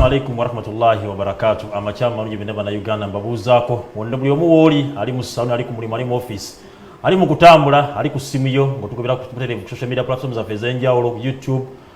alaikum warahmatullahi wabarakatu amakyamu malungi bina banauganda mbabuuzaako wonna buli omu wooli ali mu saluni ali ku mulimu ali mu office ali mu kutambula ali ku simu yo ngaotugobera kubuterevu ku social media platform zaffe ez'enjawulo youtube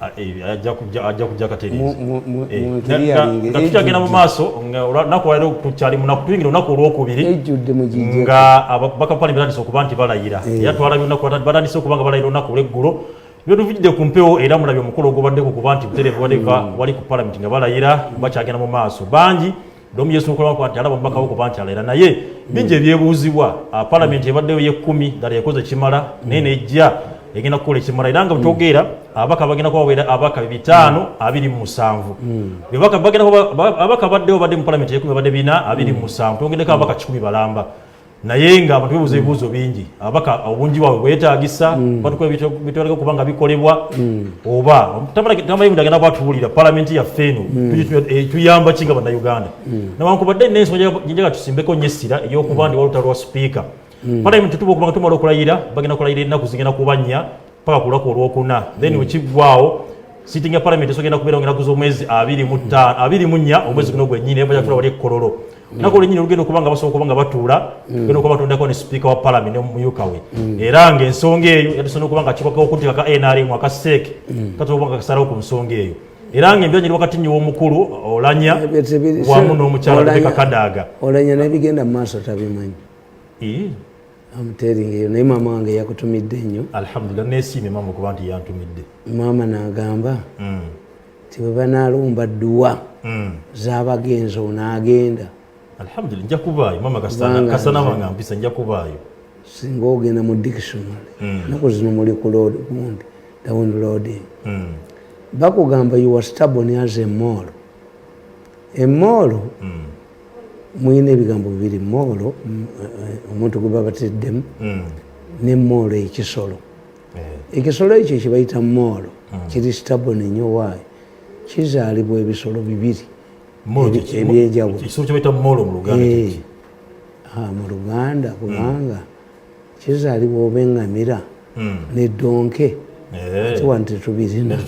ajja kujja katereezatutagenda mu maaso olunaku walero tukyali munakutuyingira olunaku olwokubiri nga bakapani batandise okuba nti balayira era twalabye olunaku batandise okuba nga balayira olunaku olweggulo byotuvujidde ku mpewo era mulabye omukolo ogubaddeko kuba nti buterevu wali ku palamenti nga balayira bakyagenda mu maaso bangi Domu Yesu Nkola kwati alaba mubaka wako banti alera naye bingi ebyebuuzibwa ah, palamenti ebaddeyo yekkumi ddala ekoze kimala naye nejja egenda kukola ekimala era nga bwetwogeera mm. abaka bagenda kubaweera abaka bitaano mm. abiri mu musanvu mm. abaka baddewo badde mu palamenti yekumi badde bina abiri mu musanvu twongeddeko abaka kikumi balamba naye nga abantu bebuuza ebibuuzo bingi ababaka obungi bwabwe bwetagisa mm. batukola bitwaleka okuba nga bikolebwa mm. oba tamanyi agenda kwatubulira palamenti yaffe eno mm. eh, tuyamba ki nga bannauganda nawankubadde nensonga jenjaga tusimbeko nyo essira eyokuba ndi walutalo lwa sipiika palamenti tuba okubanga tumala okulayira bagenda kulayira ennaku zigenda kubannya paka ku lunaku olwokuna then mm. wekiggwaawo sitting ya palamenti esogenda kubeera ngeraku z'omwezi abiri mu ttaano abiri mu nnya omwezi guno gwennyini ebaja kutula wali ekkololo nako olwenyini olugenda okuba nga basobola okuba nga batuula genda okuba batondako ne sipiika wa palamenti ne mumyuka we era nga ensonga eyo yatusobola okuba nga kikoka okuteeka ka nrm aka seek katola okuba nga kasalawo ku nsonga eyo era nga embyanyiri wakati nyiwa omukulu olanya wamu n'omukyala kakadaaga olanya nebigenda mu maaso tabimanyi amuteringa eyo naye maama wange yakutumidde nnyo alhamdulillah nesiimye maama okuba nti yantumidde maama nagamba mm. nti bwe banalumba dduwa mm. zabagenzi onaagenda alhamdulillah nja kubaayo maama kasana wange ampisa nja kubaayo singa ogenda mu dictionary mm. naku zino muli ku load gundi downloading bakugamba you are stubborn as a mall a mall mulina ebigambo bibiri moolo eh, omuntu gwe babateddemu hmm. ne moolo ekisolo eh. ekisolo ekyo kyebayita moolo hmm. kiri stabone nyo waayo kizaalibwa ebisolo bibiri ebyenjawulo eh. ah, mu luganda hmm. kubanga kizaalibwa oba engamira nedonke ati wano tetubirina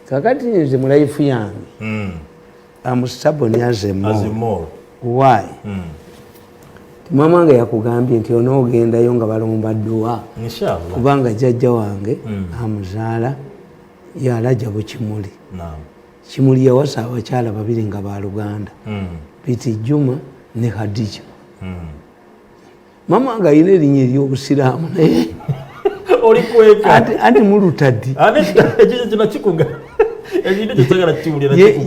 kakati nze mulayifu yange am stubborn as a mole. As a mole. Why? Mm. Mama wange yakugambye nti onoogendayo nga balomba dduwa kubanga jjajja wange mm. amuzaala yalaja bukimuli no. kimuli yawasa abakyala babiri nga baluganda mm. biti juma ne hadija mm. mama nga alina erinnya ery'obusiraamu naye ate mulutadi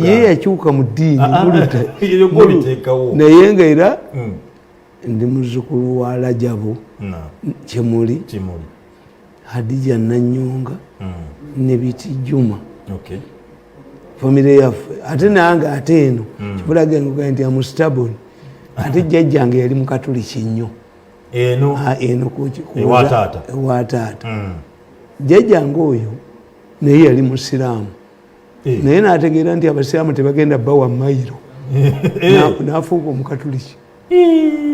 ye yakyuka mu ddiini ah, ah, naye nga era hmm. ndi muzukulu wa lajabu kyemuli hadija nanyonga mm. ne bitijuma okay. famire yaffe ate nange ate eno mm. kibulaga engoga nti amustabon ate jjajjange yali mukatuliki nnyo eno ah, eno kuwataata ewataata mm. jjajjange oyo naye yali musiraamu eh. naye nategeera nti abasiraamu tebagenda bawa mayiro eh. nafuuka omukatuliki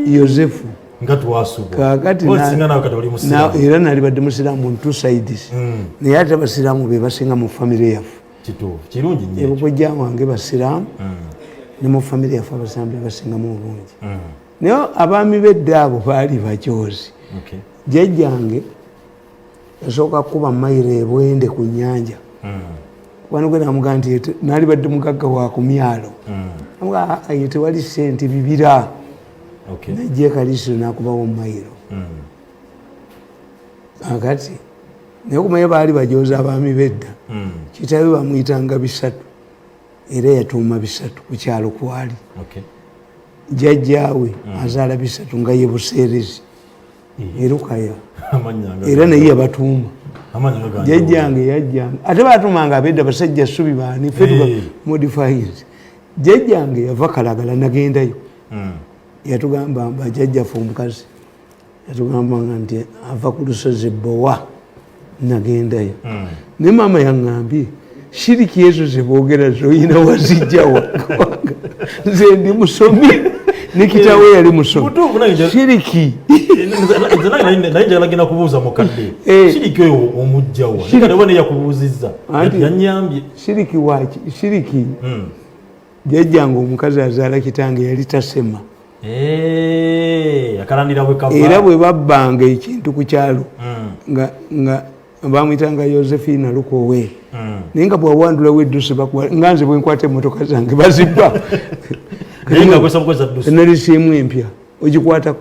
yosefu nga twasubwaera nali badde musiraamu on two sides hmm. naye ate abasiraamu be basinga mu famire yaffe ebukojja wange basiraamu hmm. ne mu famire yaffe abasiraamu be basingamu obungi hmm. naye abaami bedda abo baali bakyozi jajjange yasooka kukuba mayiro ebwende ku nyanja kubana gwe namugaa nti nali badde mugagga wa ku myalo amugaa aye tewali sente bibira najja ekalisiro nakubawo mayiro akati naye okumanya baali bajooza abaami bedda kitabe bamuyitanga bisatu era yatuuma bisatu ku kyalo kwali jajjaawe azaala bisatu nga ye buseerezi e Lukaya era naye yabatuuma jajjange yajjange ate batuumanga abedda basajja subi baani fe eh. modifies jajjange yava kalagala nagendayo hmm. yatugamba bajajjafe omukazi yatugambanga nti ava ku lusozi bowa nagendayo mm. ne maama yaŋambye shiriki ezo zebogera zoyina wazijja wakawanga nze ndi musomi nekitawe eh, yali musomiiriki naye jalagenda kubuuza mukadde eh. shiriki oyo omujjawaneyakubuuzizza shiriki waki shiriki hmm. jajjanga omukazi azaala kitange yali tasema Eh, era bwe babbanga ekintu ku kyalo hmm. nga bamuyitanga yosephina lukowe hmm. naye nga bwawandulawo eddusi nga nze bwenkwata emotoka zange bazibba nalisiemu empya ogikwatako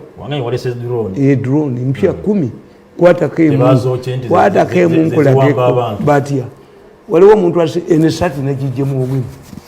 eh, drone mpya hmm. kumi kwatako emukwatako emunkulageko batya waliwo omuntu enesati nagijemu obwimu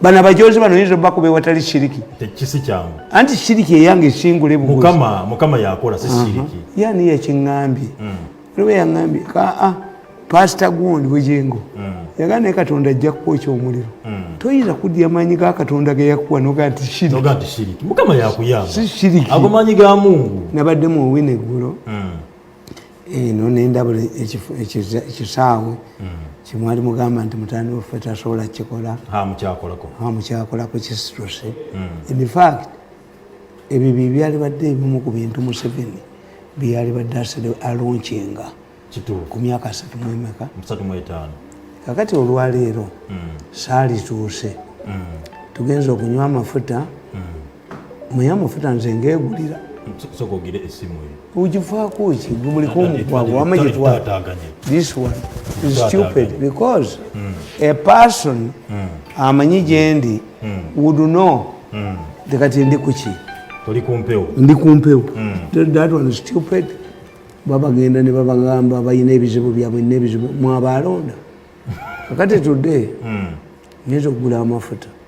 bano abajozi bano yinza obakuba ewatali shiriki tekisi kyangu anti shiriki eyange esingule mukama mukama yakola si shiriki yani yakiŋambye mm. lwe yaŋambye kaa ah, pasita gundi bugingo mm. yagaa naye katonda ajja kukwokya omuliro mm. toyinza kudya maanyi ga katonda geyakuwa noga nti shiriki mukama yakuyamba si shiriki ago maanyi ga mungu nabadde mu owina eggulo eno nendabula ekisaawe kyemwali mugamba nti mutani waffe tasobola kukikola mukyakolako kisituse hmm. infact ebyo byebyali badde ebimu ku bintu museveni byeyali badde asede alonkinga ku myaka asatu mwemeka kakati olwaleero hmm. saalituuse hmm. tugenza okunywa amafuta muyamufuta nze ngegulira sokogire esimu eyo ugivaako ki gubuliko omugwago wama gitwala this one is stupid because mm. a person mm. amanyi gyendi mm. would know mm. tekati ndi kuki oli kumpewo ndi kumpewo mm. that one is stupid babagenda ne babagamba balina ebizibu byabwe nebizibu mwabaalonda kakati today mm. nyinza okugula amafuta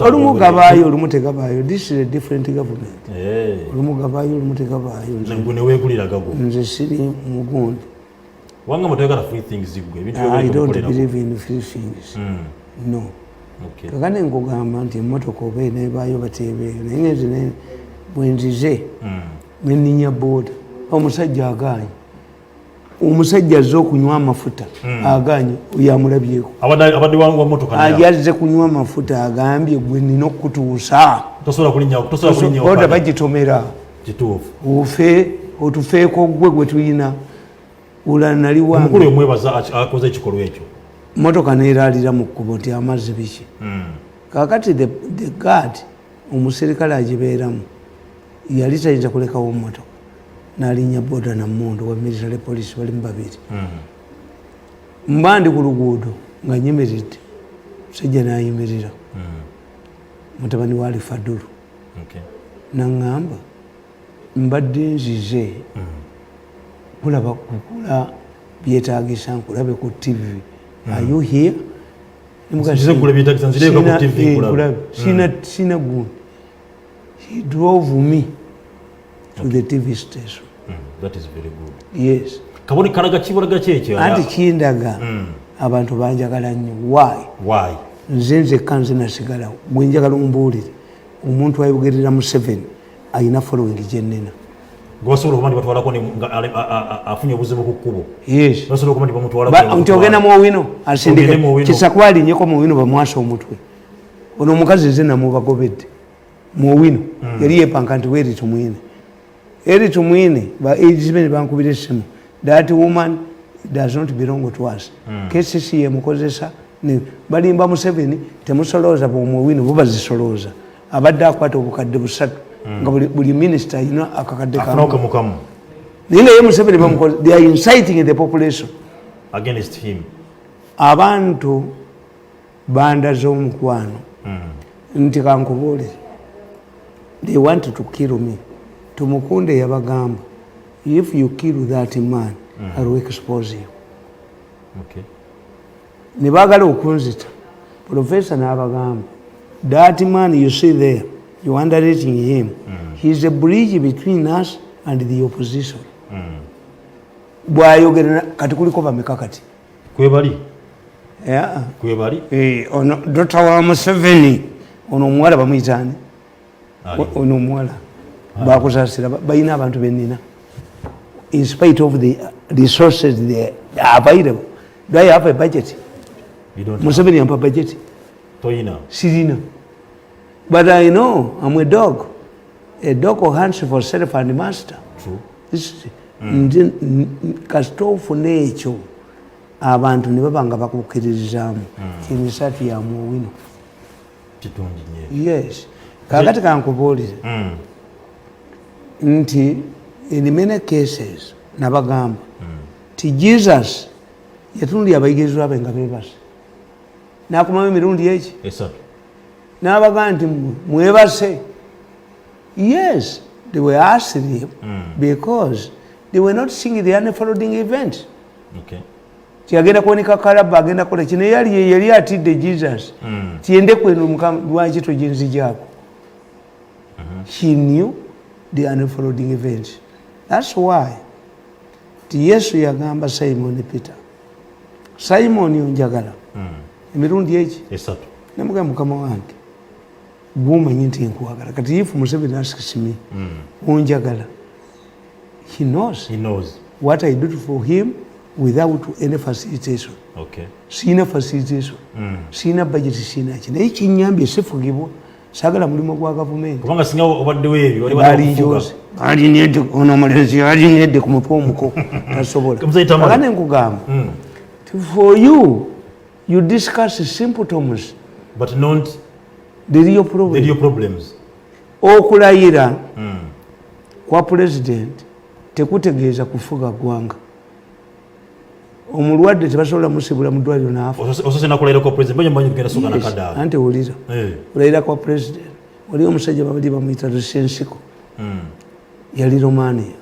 olumu gabaayo olumu tegabaayo this is a different government eh. olumu gabaayo olumu tegabaayo nze siri mugundi wanga mutayagala free things gwe ebintu ah, i don't believe in free things mm. no okay. kakane nkugamba nti emotoka oba enebayo batebeeyo naye ngenzi bwenzize mm. neninya boda omusajja agaanyi omusajja azze okunywa amafuta hmm. aganye oyo amulabyeko yazze kunywa amafuta agambye gwe nina okutuusa oda bagitomera ofe otufeeko gwe gwe tulina ulanaliwamotoka neraalira mu kkubo nti amazzi biki hmm. kakati the gad omuserikale agibeeramu yali tayinza kulekawo motoka nalinya boda na mundu wa military police bali mubabiri hmm. mba ndi ku luguudo nga nyimiridde musajja nayimirira hmm. mutabani wa alifadulu naŋŋamba mbadde nzize hmm. kulaba kukula byetagisa nkulabe ku tv ayuhia sina gundi he drove me to okay. the tv station mm, that is very good yes kaboni kalaga kibulaga kyekyo anti kindaga mm. abantu banjagala nnyo why why nze nzekka nze nasigalawo gwe njagala ombuulire omuntu ayogerera museveni alina following gyenina gwasobola okuba nti batwalako afunye obuzibu ku kkubo basobola okuba nti bamutwalako nti ogenda mu owino asindike kisakwalinnyeko mu owino bamwasa omutwe ono omukazi nze namubagobedde mu owino mm. yali yepanka nti weri tumwine eri tumwine ba ages be nebankubira essimu that woman does not belong to us mm. kcc yemukozesa balimba museveni temusolooza bwomuowino bo bazisolooza abadde akwata obukadde busatu mm. nga buli minisita ayina akakadde kamukamu naye naye museveni bamukoze they are inciting the population against him abantu bandaza omukwano hmm. nti kankubuulire they want to kill me tumukunde yabagamba if you kill that man mm. iwill expose you okay. ne bagala okunzita profesa nabagamba that man you see there you underrating him mm. heis a bridge between us and the opposition mm. bwayogera kati kuliko bameka kati kwebali kwebali eh, ono dota wa museveni ono omuwala bamuyitaani ono omuwala bakuzasira balina abantu benina in spite of the resources they are available do i have a budget museveni ampa budget sirina but i know am a dog A dog hunts for self and master. True. This, mm. nze kasita ofuna ekyo abantu ne baba nga bakukkiririzaamu mm. kimisatu ya muwino yes kakati kankubuulire mm. nti in many cases nabagamba mm. ti jesus yatunulya abayigirizwa be nga bebase nakumamu emirundi eki n'abaga nti mwebase yes they were asked him mm. because they were not seeing the unfolding event okay. tiagenda kuoneka kalaba agenda kola kino yali yali atidde jesus mm. tiende kwenu mukama lwaki tojinzijako mm -hmm. he knew the unfolding event that's why ti yesu yagamba simon peter simoni onjagala hmm. emirundi eki esatu nemugaa mukama wange gwomanyi nti nkwagala kati if museveni asks me hmm. onjagala he knows. he knows what i did for him without any facilitation okay. siina facilitation mm. siina budget siina ki naye kinyambye sifugibwa sagala mulimu gwa gavumenti kubanga singa obaddewo ebyo alinedde ono omulenzi alinedde ku mutwe omuko tasobolaoba ne nkugamba hmm. for you you discuss symptoms but not deriyo problems okulayira hmm. kwa pulezidenti tekutegeeza kufuga ggwanga omulwadde tebasobola musibula mudwaliro naafaante wulira eh. olayira kwa president waliyo omusajja babali bamuyita lusensiko hmm. yali romania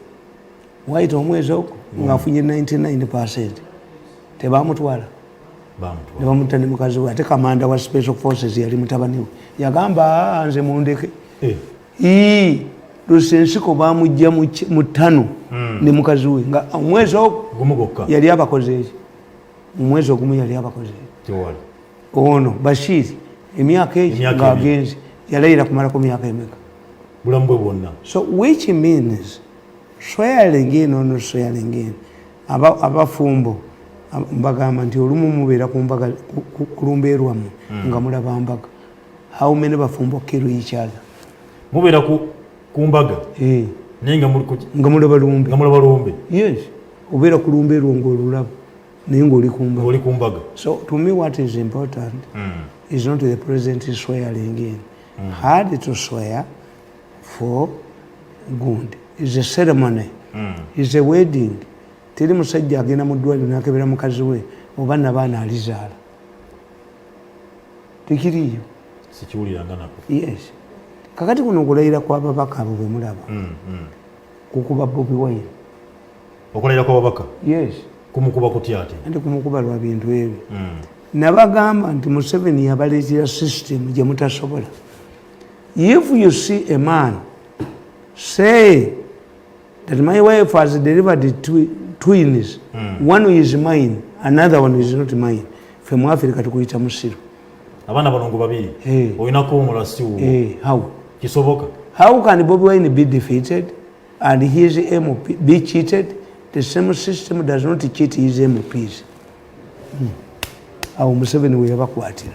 wayita omwezi ogwo hmm. ngaafunye 99 percent tebamutwala nebamutta ne mukazi we ate kamanda wa special forces yali mutabaniwe yagamba ah, nze mundeke eh. ii lusensiko bamujja mu ttano hmm. ne mukazi we nga omwezi ogumu gokka yali abakoze eki omwezi ogumu yali abakoze eki ono bashiri emyaka egi ngaagenzi yalayira kumalako myaka emeka bulamu bwe bwonna so which means swearing in or not swearing in abafumbo mbagamba nti olumu mubeera ku mbaga kulumba erwamu hmm. nga mulaba mbaga how many bafumbo kill each other mubera ku kumbaga eh naye nga muli kuki nga muli balumbe nga muli balumbe yes obera kulumbe rongo olulabo naye nga oli kumbaga oli kumbaga so to me what is important mm. is not the president swearing in mm. had to swear for good is a ceremony mm. is a wedding teri musajja agenda mu ddwaliro nakebera mukazi we oba nabaana alizaala tekiriiyo sikiwuliranga nako yes kakati kuno okulayira kwababaka abo bemulaba mm, mm. kukuba bobi wine okulayira kwababaka yes kumukuba kutya ate anti kumukuba lwa bintu ebyo mm. nabagamba nti museveni yabaleetera system gye mutasobola if you see a man say that my wife has delivered twi twins mm. one is mine another one is not mine fe mu africa tukuyita musiru abana balongo babiri hey. Eh. oyina kuwumula siwo hey. Eh, how kisoboka how can bobi wine be defeated and his mp be cheated the same system does not cheat his mps hmm. awo museveni weyabakwatira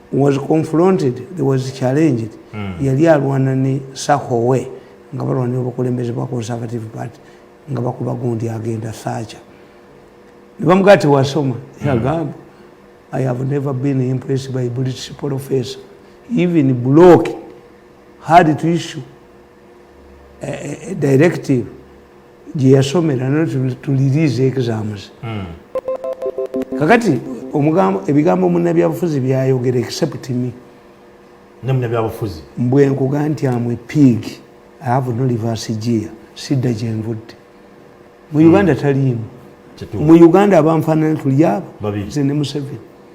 was confronted there was challenged mm. yali alwana ne sahowe nga balwanira obukulembeze bwa conservative party nga bakuba gundi agenda sacha nebamugaa tewasoma yagamba hmm. i have never been impressed by british professor even block had to issue a, a, a directive gye yasomera no tuliriiza exams hmm. kakati omugambo ebigambo munnabyabufuzi byayogera except me ne munnabyabufuzi mbwe nkuga nti amwe pig ave no livasi gia sidda gye nvudde mu hmm. uganda taliimu mu uganda abanfaanana tuli abo ze ne museveni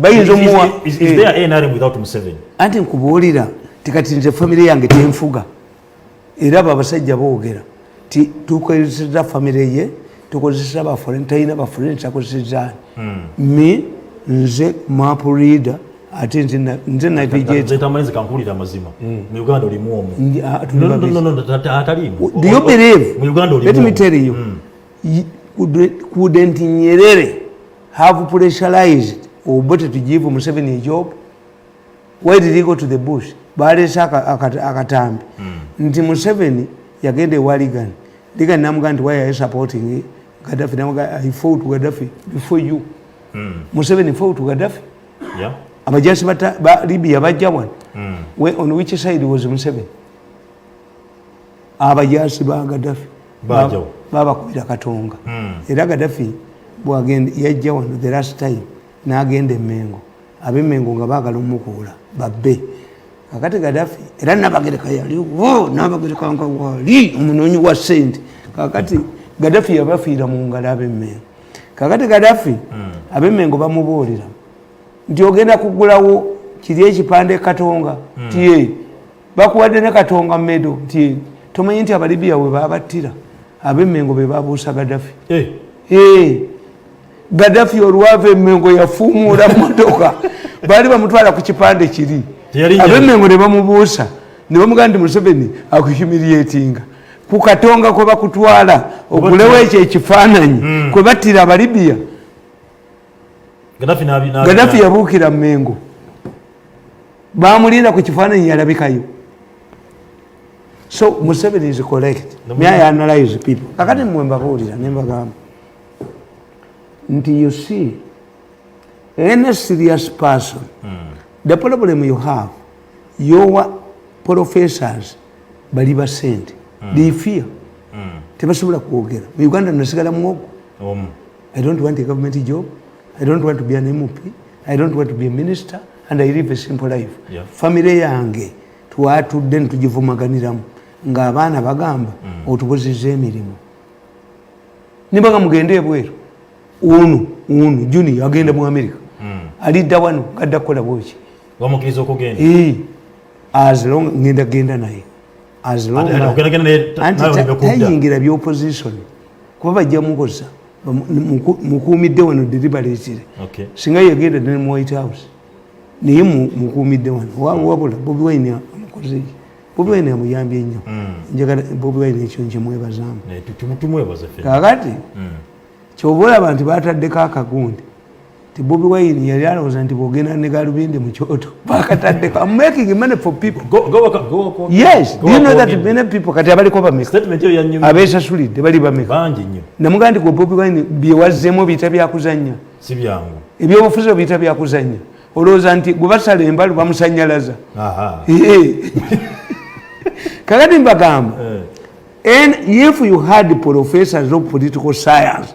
bayinza omuwa eh. anti nkubuulira tikati nze famire yange tenfuga era abo abasajja boogera ti tukozeseza famire ye tukozeseza bafure talina bafure ntakozesezani hmm. mi nze mapu reader ate nze navigatekankuulira amazima hmm. mu uganda olimu omu ah, do you believe let me tell you hmm. couldn't nyerere have pressurized obote to give museveni a job why did he go to the bush baleese akatambi hmm. nti museveni yagenda ewa ligan ligan namuga nti why are you supporting gaddafi namuga i fought gaddafi before you hmm. museveni fought gaddafi abajasi ba libya bajja wan hmm. on which side was museveni abajaasi ba gadafi babakubira katonga hmm. era gadafi bwagenda yajja wano the last time nagenda emengo abemengo nga bagala omukuula babbe kakati gadafi era nabagereka yaliwo nabagereka nga wali omunoonyi wa sente kakati gadafi yabafiira mu ngalo abemengo kakati gadafi hmm. abemengo bamubuulira nti ogenda kugulawo kiri ekipande katonga hmm. tiye bakuwadde ne katonga medo nti tomanyi nti abalibiya we babattira abemengo be babuusa gadafi eh. eh. gadafi olwava emengo yafuumuula motoka baali bamutwala ku kipande kiri abemengo ne bamubuusa ne bamugaa nti museveni akuhumiriatinga ku katonga kwe bakutwala okulewo ekyo ekifaananyi hmm. kwe battira abalibiya gadafi yabuukira mengo bamulinda ku kifaananyi yalabikayo so museveni is collect myayanalize people kakati mmwe mbabuulira nembagamba nti you see any serious person mm. the problem you have your professors bali basente mm. they fear mm. tebasobola kwogera mu uganda nasigala muwogo I don't want a government job. I don't want to be an MP. I don't want to be a minister. And I live a simple life. Yeah. Family yange twatudde nitugivumaganiramu ng'abaana bagamba mm. otubuziza emirimu nibaga mugende ebweru unu unu juni agenda mu amerika mm. alidda wano gadda kukola bwoki as long ngenda genda naye tayingira byopositioni kuba bajja mukoza mukuumidde wano deliberatire singa yagenda ne mu white house naye mukuumidde wano wabula bobi wine amukoze bobi wine amuyambye nnyo mm. njagala bobi wine ekyo nkimwebazamu kakati mm. kyova olaba nti bataddeko akagundi ti bobi wine yali alowooza nti bwogenda ne galubindi mu kyoto bakataddeko am making money for people go, go, go, go, go. yes go, do you know that many people kati abaliko bameka abesasulidde bali bameka namugaa nti gwe bobi wine byewazzemu biyita byakuzannya si byangu ebyobufuzi obiyita byakuzannya olowooza nti gwe basala embalu bamusanyalaza kakati mbagamba eh. and if you had professors of political science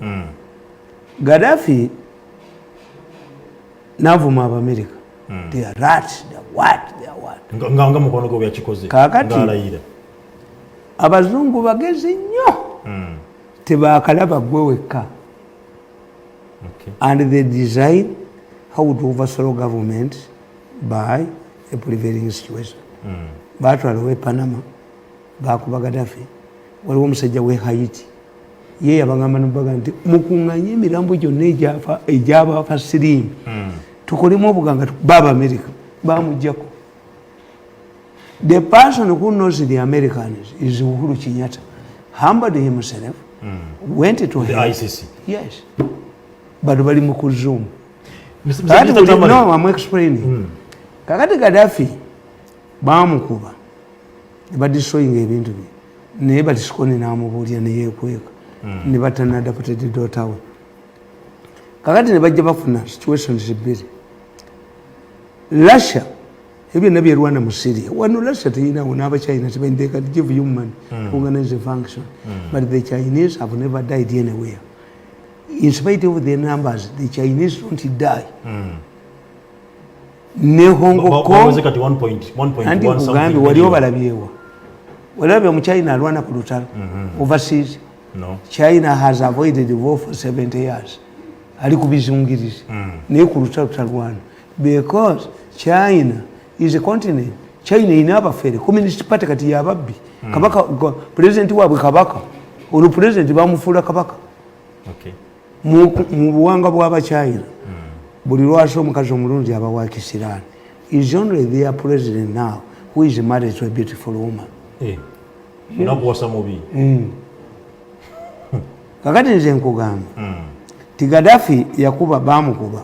mm. gadafi navuma abamerika mm. they are rat they are what they are what nga nga mukono gwe yakikoze kakati ngalayira abazungu bagezi nnyo mm. tebakalaba gwe wekka okay. and they design how to overthrow government by a prevailing situation mm. batwalawo e panama bakuba gadafi waliwo omusajja we haiti ye yabagamba nobaga nti mukunganye emirambo gyonna egyabaafa siriimu hmm. tukolemu obuganga baba america bamujjako the person who knows the americans is uhuru kinyata humbled himself mm. went to the him. icc yes bado bali mu kuzoom no, I'm explaining mm. kakati gadafi bamukuba nebadistroyinga ebintu bye naye batisikoni namubuulira neyekweka hmm. nebatanadaputede dotawe kakati nebajja bafuna situations bbiri russia ebyo byonna byerwana mu syria wano russia teyinawo n'abachina tebendeka give human hmm. organize the function hmm. but the chinese have never died anywhere in spite of their numbers the chinese don't die ne hongo kondi kugambi wali obalabyewa walabye omuchina alwana ku lutalo mhm. overseas china has avoided war for 70 years ali ku bizungirizi mm. naye ku lutalo talwana because china is a continent china erina abafere communist party kati yababbi mm. kabaka president wabwe kabaka olwo president bamufuula kabaka mu buwanga bwabachina buli lwasa omukazi omulungi aba wa kisiraani is only their president now who is married to a beautiful woman eh, nakuwasa mubi mm. kakati nze nkugamba mm. ti gadafi yakuba bamukuba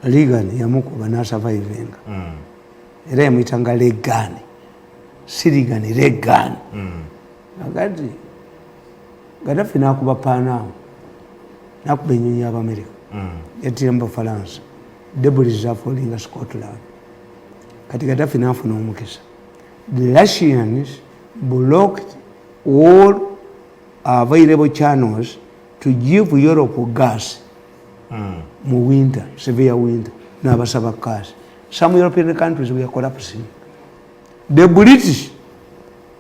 legan yamukuba nasurvivinga mm. era yamuyitanga legani si ligani legani agati gadafi nakuba panamu nakuba enyonyi yabamerika mm. yatira mubafalansa debris zafolinga scotland kati gadafi nafuna omukisa the russians blocked all available channels to give europe gas mm. mu winter severe winter nabasaba gas some european countries were collapsing the british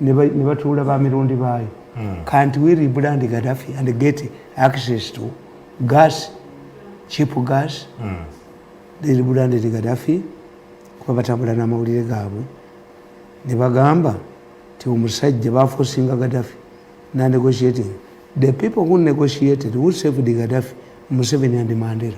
ne batuula ba mirundi baayo hmm. can't we rebrand gaddafi and get access to gas cheap gas hmm. they rebranded gaddafi kuba batambula n'amawulire gaabwe ne bagamba ti omusajja bafosinga gaddafi na negotiating the people who negotiated who saved gaddafi museveni and mandela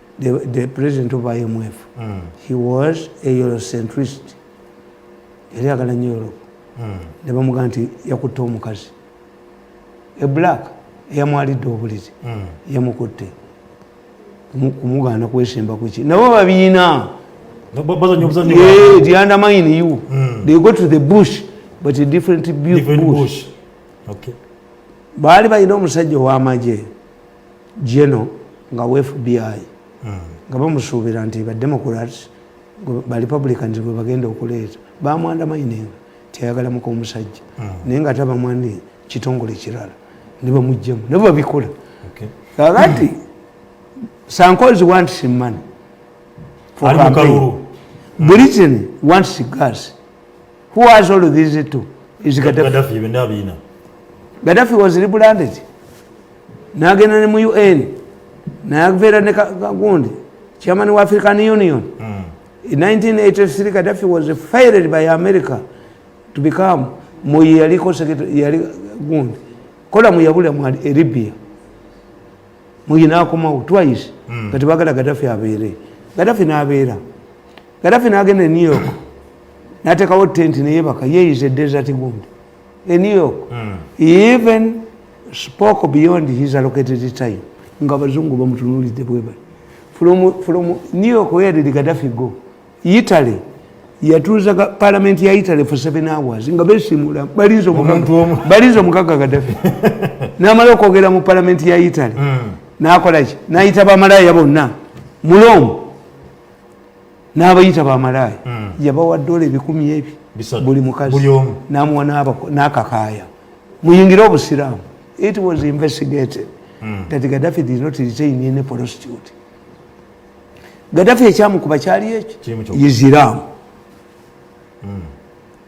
the, the president of imf mm. he was a eurocentrist yali agala nyo europe mm. ne bamugamba nti yakutte omukazi e black eyamwalidde obulizi mm. yamukutte kumugaana kwesimba kuki nabo babiina the undermine you mm. they go to the bush but a different, different bush, bush. Okay. baali balina omusajja owamagye geno nga fbi hmm. nga bamusuubira nti bademocrats barepublicans gwe bagenda okuleeta bamwandamainenga tiyayagala muka omusajja hmm. naye nga tabamwandi kitongole kirala nebamugjamu nabo babikola kakati sankozi want some money for campaign britain wants gas who has all these two is gaddafi gaddafi was rebranded nagenda ne mu un nayaveera ne kagundi chairman wa african union mm. in 1983 gaddafi was fired by america to become muyaliko yali gundi kola muyabulira mu libya muyi nakomawo twice mm. kati bagala gadafi abeere gadafi nabeera gadafi nagenda e new york natekawo tenti neyebaka yeyiza edesert gund e new york mm. even spoke beyond his allocated time nga abazungu bamutunulidde bwebali from, from new york where did gadafi go Italy yatuuza palamenti ya Italy for seven hours nga besimula balinza omukaka Gaddafi namala okwogera mu palamenti ya Italy hmm. nakolaki nayita bamalaaya bonna muloomu n'abayita bamalaaya hmm. yabawa dola ebikumi ebyo buli mukazi namuwa nakakaaya muyingire obusiraamu it was investigated mm. that gaddafi did not retain any prostitute gadafi ekyamukuba kyali ekyo yiziraamu hmm.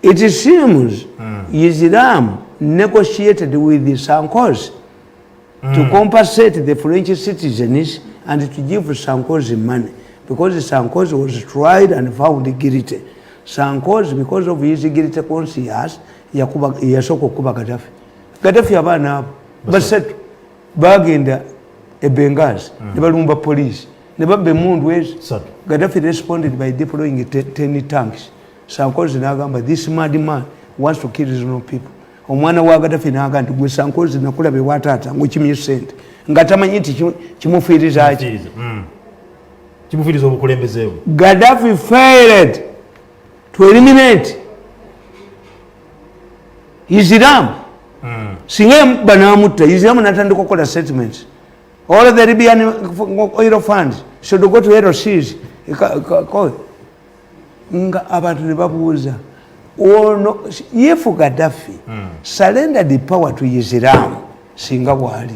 it seems hmm. yiziraamu negotiated with the sankos hmm. to compensate the french citizens and to give sankos money because sankos was tried and found guilty sankos because of his guilty conscious yasooka okukuba gadafi gadafi abaana abo basatu bagenda e Benghazi mm. ne balumba police ne babba emundu ezo Gaddafi responded by deploying ten tanks Sankozi n'agamba this mad man wants to kill his own people omwana wa Gaddafi n'agamba nti gwe Sankozi nakulaba ewa taata ng'okimye sente nga tamanyi nti kimufiiriza ki mm. kimufiiriza obukulembeze bwe Gaddafi failed to eliminate isiramu hmm. singa emubba namutta isiramu natandika okukola statements all the libyan oil funds should go to lcs nga abantu nebabuuza ono yefu gadafi hmm. surrender the power to isiramu singa bwali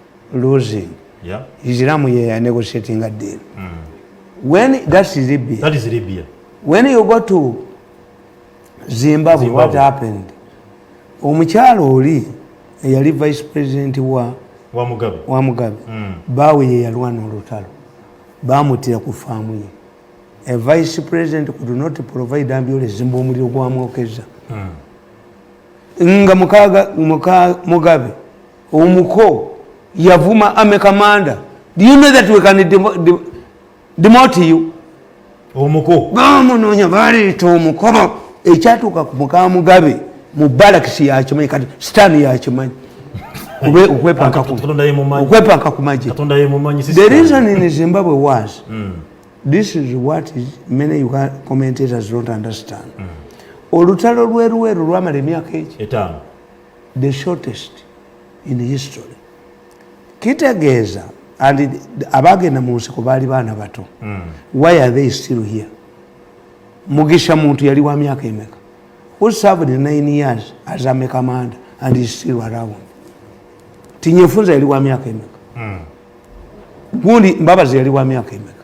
losing yeah. islamu yeya negotiating a deal mm. when that's libya that is libya when you go to zimbabwe, zimbabwe. what happened omukyalo oli eyali vice president wa wa mugabe wa mugabe mm. bawe ye yalwana olutalo bamutira ku faamu ye a vice president could not provide ambulance zimba omuliro gwamwokeza mm. nga mukaga mukaga mugabe omuko yavuma ame kamanda do you know that we can demote you omuko bamunonya baleeta omukobo ekyatuuka ku mukamugabe mu balakisi yakimanyi kati sitaani yakimanyi okwepanka ku maje the reason in zimbabwe was mm. this is what is many commentators don't understand mm. olutalo lwerweru lwamala emyaka eki the shortest in history kitegeeza and abagenda mu nsiko baali baana bato mm. why are they still here mugisha muntu yali wa myaka emeka who served nine years as a commander and is still around tinyefunza yali wa myaka emeka mm. gundi mbabazi yali wa myaka emeka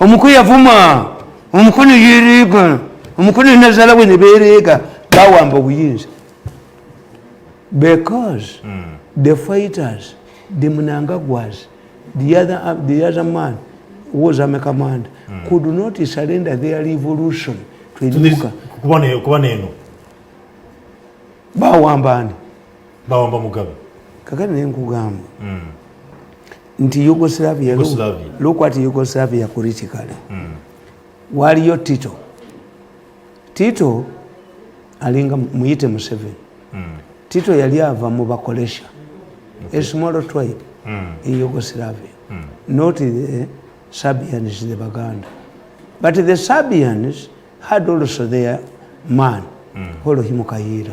omuku yavuma omukunu yiriga omukunu nazala we nebereega bawamba obuyinza because mm. the fighters the munangagwas the other, uh, the other man was ame command mm. could not surrender their revolution to enuka kuba neno bawamba ani bawamba mugabe kakati naye nkugamba mm. nti yugoslavia lukwati yugoslavia kuritikale mm. waliyo tito tito alinga muyite museveni mm. tito yali ava mu bakolesha okay. esmolo tribe mm. in yugoslavia mm. not the serbians the baganda but the serbians had also their man mm. holohimukayiira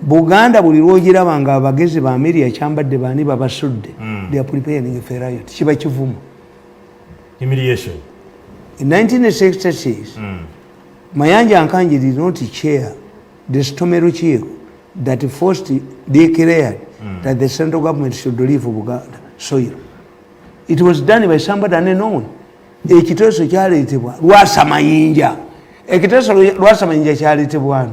buganda buli lwogiraba nga abagezi ba meria kyambadde baani babasudde hmm. kiba kivumu in 1966 hmm. mayanja nkanji did not chair the stome lukiiko that first declared hmm. that the central government should leave buganda soil it was done by somebody unknown ekiteeso kyaleetebwa lwasamayinja ekiteeso lwasamayinja kyaleetebwani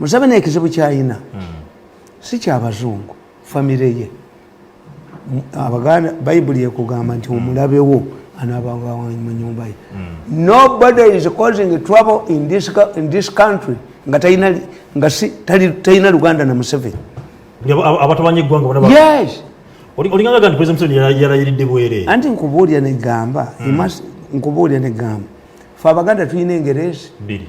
museveni ekizibu kyayina hmm. si kyabazungu famire ye abaganda bayibuli ekugamba nti omulabewo anabawamunyumba ye hmm. nobody is causing trouble in this, in this country nga talina luganda na museveni abatabanya eggwanga bonaes olingaga nti president museveni yalayiridde bwere anti nkubuulira negamba hmm. nkubuulira negamba fe abaganda tulina engerezi biri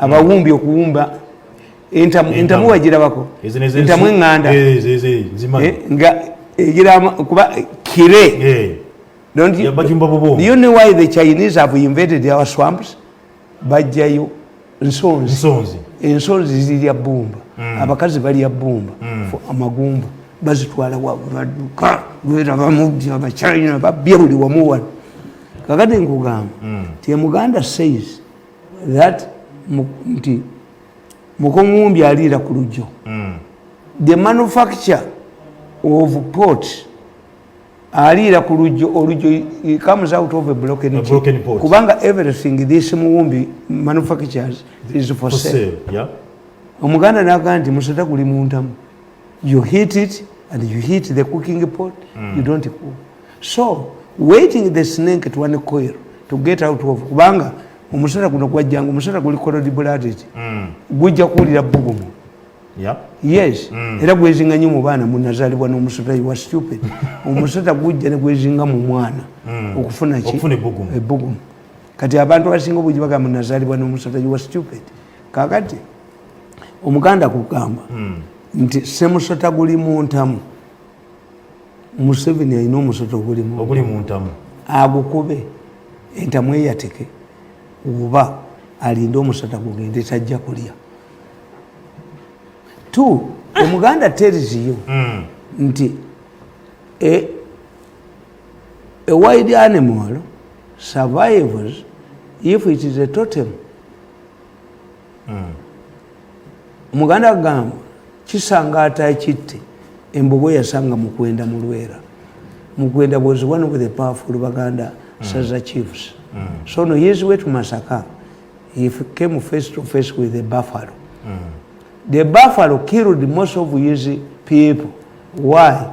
abawumbi okuwumba entamu wagirabako entamu eŋŋanda eh, nga egiramu eh, kuba eh, kire don't you, do you know why the chinese have invaded our swamps bajjayo nsonzi ensonzi zirya bumba mm. abakazi balya bumba mm. amagumba bazitwala wabaduka lwerabamubi abachina babya buli wamu wano kakati nkugamba mm. ti muganda says that nti mukomuwumbi aliira ku lujjo mm. the manufacture of port aliira ku lujjo olujjo comes out of a broken, a broken pot kubanga everything this muwumbi manufactures is for, for sale, sale. Yeah. omuganda naga nti musota guli muntamu you heat it and you heat the cooking pot mm. you don't cook so waiting the snake to one coil to get out of kubanga omusota guno gwajjanga omusota guli korodi buladiti mm. gujja kuwulira bugumu yep. yes mm. era gwezinga nyo mu baana munazalibwa n'omusota iwa stupid omusota gujja ne gwezinga mu mwana mm. okufuna ki ebugumu kati abantu abasinga obugi bagamba nazalibwa n'omusota iwa stupid kakati omuganda kugamba hmm. nti semusota guli muntamu museveni alina omusota oguli muntamu agukube entamu eyateke oba alinde omusota gugende tajja kulya t omuganda teriziyo hmm. nti e, a wide animal survives if it is a totem omuganda hmm. agamba kisanga atakitte embogo yasanga mukwenda mulwera mukwenda was one of the powerful baganda mm. saza chiefs mm. so no his way to masaka he came face to face with the buffalo mm. the buffalo killed most of his people why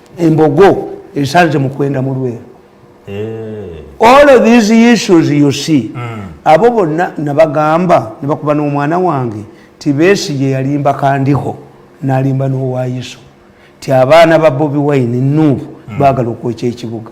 embogo esanze mukwenda mulweru eh. all of these issues you see mm. abo bonna nabagamba nebakuba n'omwana wange tibesi gye yalimba kandiho nalimba n'owayiso ti abaana ba bobi wine nuubu mm. bagala okwekya ekibuga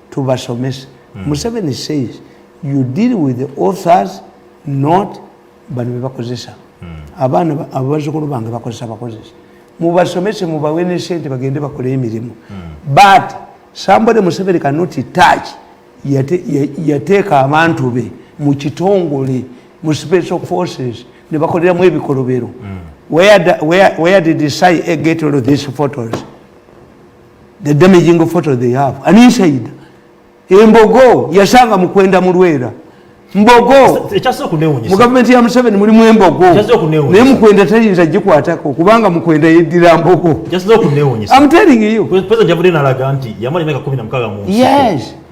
tubasomese mm. museveni says you deal with the authors not bano bebakozesa mm. abaana abazukulu bange bakozesa bakozesa mubasomese mubawe ne sente bagende bakole emirimu mm. but somebody museveni cannot touch yateeka abantu be mu kitongole mu special forces ne bakoleramu ebikolobero mm. where, where, where did he say, eh, get all of these photos the damaging photo they have an inside embogo yasanga mukwenda mulwera mbogo mu gavumenti ya museveni mulimu embogo naye mukwenda tayinza gikwatako kubanga mukwenda yeddira mbogo amtelingiyo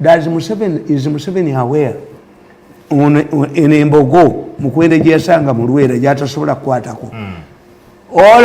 Does Museveni, is Museveni aware eno embogo mukwende gyeyasanga mu lwera gyatasobola kukwatako mm. all